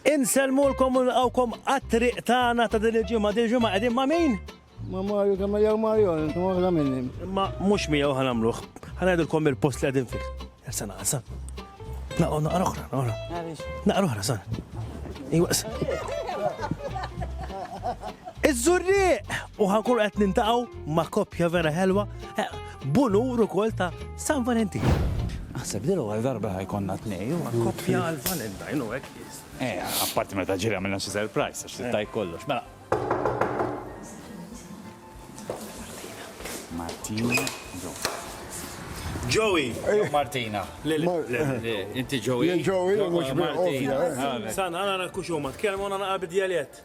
Insellmulkom u nilqgħukom għat-triq tagħna ta' din il-ġimgħa. Din il-ġimgħa qegħdin ma' min? Ma' Mario kemm jew Mario, intom oħra minni. Imma mhux miegħu ħa nagħmluh. Ħa ngħidilkom il-post li qegħdin fih. Ersa naqra sa. Naqgħu naqra oħra, naqra. Naqra oħra sa. Iwaqs. Iż-żurrieq! U ħankun qed nintaqgħu ma' koppja vera ħelwa. b'unur ukoll ta' San Valentin. Aħseb li l-ewwel darba ħajkonna tnej u koppja għal Valentine u hekk is. Eh, apparti meta ġiri għamilna xi surprise għax tittaj kollox. Mela. Martina, Joe. Joey! Martina. Inti Joey. Joey, mhux Martina. San, għana nakkuxu ma tkellmu għana naqabid dialett.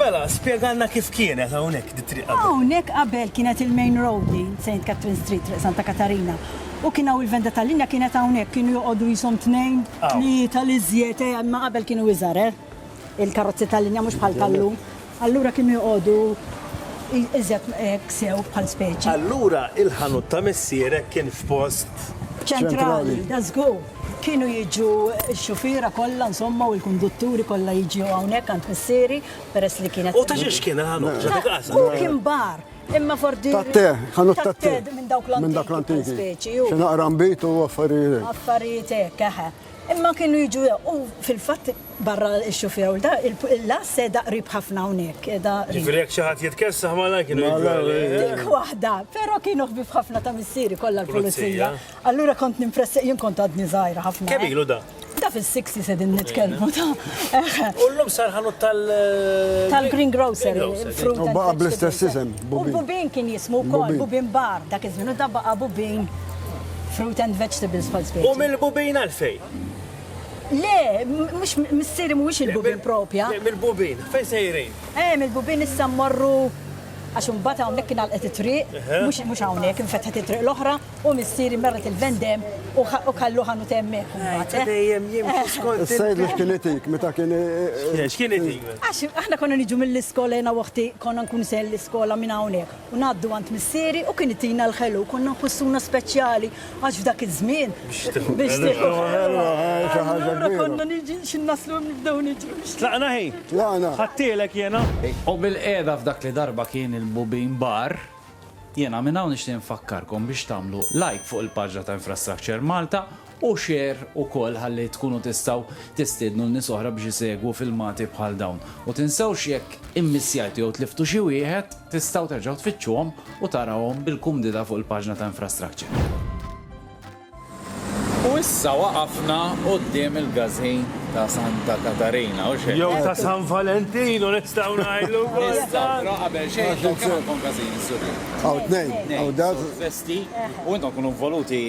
Mela, spieganna kif kienet hawnhekk di triq. Hawnhekk qabel kienet il-main road li St. Catherine Street, Santa Katarina. U kien hawn il-venda tal-linja kienet hawnhekk kienu joqogħdu jisom tnejn li tal-iżjed eh, ma qabel kienu iżgħar, eh? Il-karozzi tal-linja mhux bħal tal-lum. Allura kienu joqogħdu iżjed hekk sew bħal speċi. Allura il-ħanut ta' missierek kien f'post. Ċentrali, da żgur. Kienu jiġu x-xufiera kollha insomma u l-kundutturi kollha jiġu hawnhekk għand missieri peress li kienet. U ta' xiex kien il-ħanut? U kien bar. Imma fordi. Tatte, ħanut tatte. Minn dawk l-antiki. Minn dawk l-antiki. Xi naqra mbit u affarijiet. Affarijiet hekk, eħe. Imma kienu jiġu u fil-fatt barra x-xufier da il-las da qrib ħafna hawnhekk. Ġifieri jekk xi ħadd jitkessaħ malaj kienu Dik waħda, però kienu ħbib ħafna ta' missieri kollha l-pulizija. Allura kont nimpressa jien kont għadni żgħira ħafna. Kemm ilu da? Da fil-60 se din nitkellmu ta'. U llum sar ħanut tal. Tal-Green Grocer. U baqa' bl-istess isem. U Bubin kien jismu wkoll, Bubin Bar, dak iż-żmien u da baqa' Bubin. Fruit and vegetables bħal spieċi. U mill-bubin għalfej? Le, mux missieri mux il-bubin propja. Le, mill-bubin, fej sejrin? Eh, mill-bubin issa morru għax imbagħad hawnhekk kien għalqet it-triq, mhux mhux hawnhekk infetħet it-triq l-oħra u missieri merret il-vendem u kallu ħanu temmi. Dejjem jimxi eh. skont. Sejd li kien itik meta kien. Eh, eh, x'kien itik? Għax aħna konna niġu mill-iskola jiena waħti konna nkun sel l-iskola minn hawnhekk. u ngħaddu għand missieri u kien itina l-ħelu, konna nħossuna speċjali għax f'dak iż-żmien biex tieħu l-ħelu xi ħaġa kbira. Konna niġi xi naslu nibdew niġru. Tlaqna hi? Tlaqna. Ħadtielek jiena? U bilqiegħda f'dak li darba kien il-Bubin Bar, jiena minn hawn nixtieq infakkarkom biex tagħmlu like fuq il-paġna ta' Infrastructure Malta, u share ukoll ħalli tkunu tistgħu tistiednu lil nies oħra biex isegwu filmati bħal dawn. U tinsewx jekk immissjajtu jew tliftu xi wieħed, tistgħu terġgħu tfittxuhom u tarawhom bil-kumdità fuq il-paġna ta' Infrastructure. U issa waqafna quddiem il-Gazin ta' Santa Katarina, hux hekk? Jew ta' San Valentino nistgħu ngħidlu wkoll. Nistgħu, però qabel xejn intom kemm għandkom gazini, Sur Lee? Hawn tnejn. Hawn dak. Festi, u intom tkunu involuti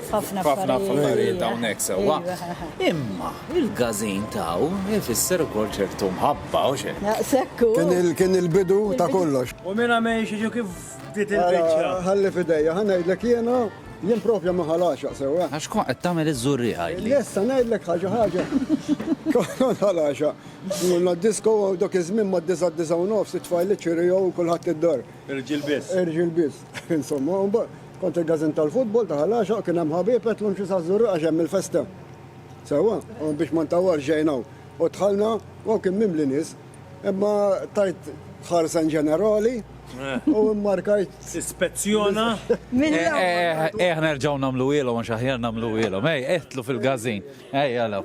F'ħafna affarijiet hawnhekk sewwa. Imma il-gażin taw ifisser ukoll ċertu mħabba u xejn. Sekku. Kien il-bidu ta' kollox. U minn għamel xi kif bdiet il-biċċa. Ħalli f'idejja, ħa ngħidlek jiena, jien propja ma ħalaxaq sewwa. Għax kont qed tagħmel iż-żurrieq għidli. Issa ngħidlek ħaġa ħaġa. Kont ħalaxaq. Morna d-disko u dak iż-żmien mad-disgħa d-disgħa u nofs it-tfajliet ċirriegħu kulħadd id-dar. Irġiel biss. Irġiel biss. Insomma, u mbagħad. Kont il-gazin tal-futbol ta' Ħal-Għaxaq kien hemm ħabieb qedlu mxi saż-Żurrieq għax hemm il-festa. Sewwa, u biex ma ntawwalx ġejna hawn. U dħalna u hawn kien mimli nies. Imma tajt ħarsa in ġenerali u mmarkajt. Ispezzjona. Ejja nerġgħu nagħmluhielhom għax aħjar nagħmluhielhom. Ejja, idħlu fil-gazin. Ejja law.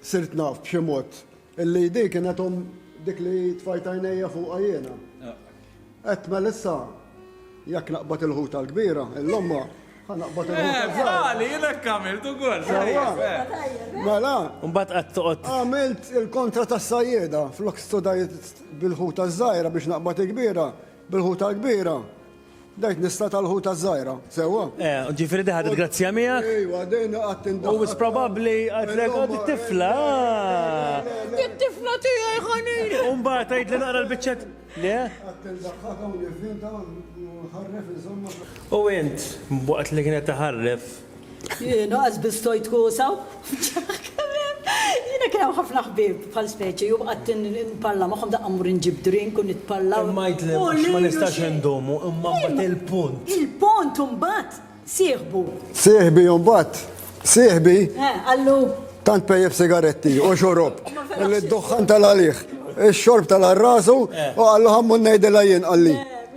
Sirt naf b'xi mod illi din kienet omm dik li tfajt għajnejja fuqha jiena. Għedt mela issa jekk naqbad il-ħuta l-kbira, il-lomma, ħa naqbad il-ħuta l-kbira. Eh, Għali, jiena kamilt ukoll. Mela. Mbagħad qatt toqgħod. Għamilt il-kontra tas-sajjeda flok studajt bil-ħuta ż-żgħira biex naqbad il-kbira. Bil-ħuta l-kbira, bdejt nista' tal-ħuta ż-żgħira, sewwa? Eh, ġifieri di ħadet grazzja miegħek? Ejwa, din qatt tindaħħal. U wis probabbli għidlek għad it-tifla. It-tifla tiegħi ħanin. U mbagħad tgħidli naqra l-biċċet. Le? Qatt tindaħħal hawn nivvinta ħarref insomma. U int, waqt li kienet taħarref, Jiena qas biss stojt kusa u nċaħħ kemm hemm. Jiena kien hawn ħafna ħbieb bħal speċi u qgħadt nparla magħhom daqqa mmur inġib drink u nitparla u. Imma jgħidli għax ma nistax indumu imma mbagħad il-punt. Il-punt u mbagħad sieħbu. Sieħbi u mbagħad sieħbi. Eh, qallu. Tant pejjef sigaretti u xorob. Qalli d-duħħan tal-għalih. Ix-xorb tal-rasu u qallu ħammu ngħidilha jien qalli.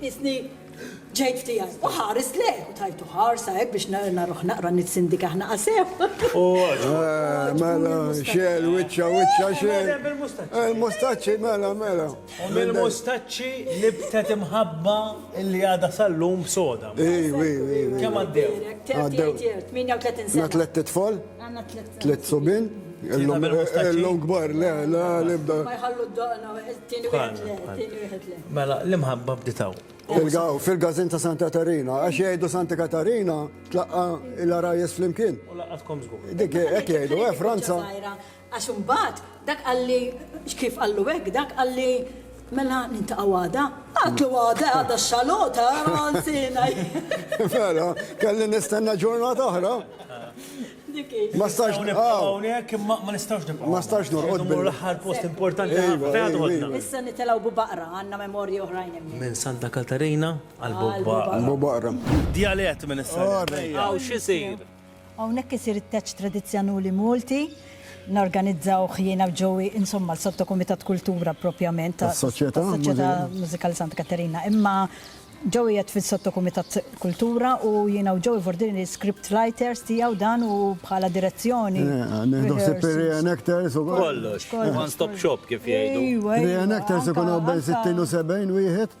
Qisni ġejt tiegħi. U ħares lejh u tajtu ħarsa hekk biex naruh naqra nitsindik aħna qasew. Eh, mela, xel, wiċċa, wiċċa, xel. Il-mustaċċi, eh, mela, mela. U mill-mustaċċi nibtet imħabba li għada sal-lum soda. Ej, ej, ej. Kemm għaddew? Għaddew. 38 sena. Tlet tfal? Għanna tlet. Tlet sobin? L-longbar, le, la, libda. Ma jħallu d-doqna, t-tini wieħed le, t-tini wieħed le. Mela, l-imħabba bditaw. Fil-gazin ta' Santa Katarina, għax jgħidu Santa Katarina, tlaqqa il-arajes fl-imkien. U laqqatkom zgur. Dik, ek jgħidu, eh, Franza. Għax imbagħad dak qalli, kif qallu hekk, dak qalli, Mela niltaqgħu għada? Għadtlu għada, għada x-xalota, ma nsina. Vera, kelli nistenna ġurnata oħra. Ma stax hawnhekk imma ma nistax nibqa'. Ma stax norqod bil l-aħħar post importanti ħafna tħodna. Issa nitilgħu bubaqra għandna memorji oħrajn hemm. Minn Santa Katarina għal bubaqra. Bubaqra. Djalett minn issa. Hawn x'isir? Hawnhekk isir it-teċċ tradizzjanuli Multi. Norganizzawh jiena u Joey, insomma l-Sottokumitat Kultura propjament ta' tas-Soċjetà tas-Soċjetà Mużikali Santa Katerina. Imma Joey qiegħed fis-Sottokumitat Kultura u jiena u Joey Vordini script writers tiegħu dan u bħala direzzjoni, rehearsals. Nieħdu ħsieb ir-reenactors ukoll. Kollox. One stop shop kif jgħidu. Ejwa, ejwa. Reenactors ikun hawn bejn 60 u 70 wieħed.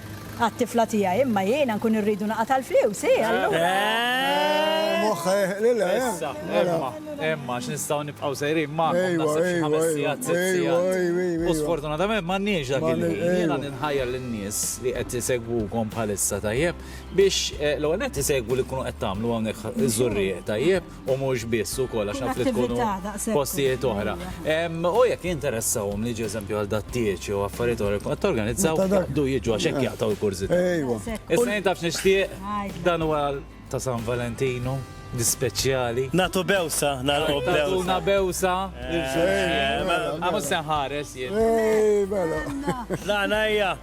għat-tifla tiegħi, imma jiena nkun irridu naqa' tal-fliws, hi allura. Moħħha jeħqlilha, eh? Issa, imma, imma, x'nistgħu nibqgħu sejrin ma' naħseb xi ħames sigħat, sitt sigħat. U sfortunatament m'għandniex dak il-ħin. Jiena ninħajjar lin-nies li qed isegwukom bħalissa tajjeb biex l-ewwel nett isegwu li tkunu qed tagħmlu hawnhekk iż-żurrieq tajjeb u mhux biss ukoll għax naf li tkunu postijiet oħra. U jekk jinteressahom li eżempju għal dattieċ jew affarijiet oħra qed torganizzaw du jiġu għax hekk jaqtaw il-kurżità. Issa jien tafx nixtieq dan huwa ta' San Valentinu speċjali. Natu bewsa, nagħlqu bewsa. Natuna bewsa. Għamu senħares jien. Ej, mela. La, najja.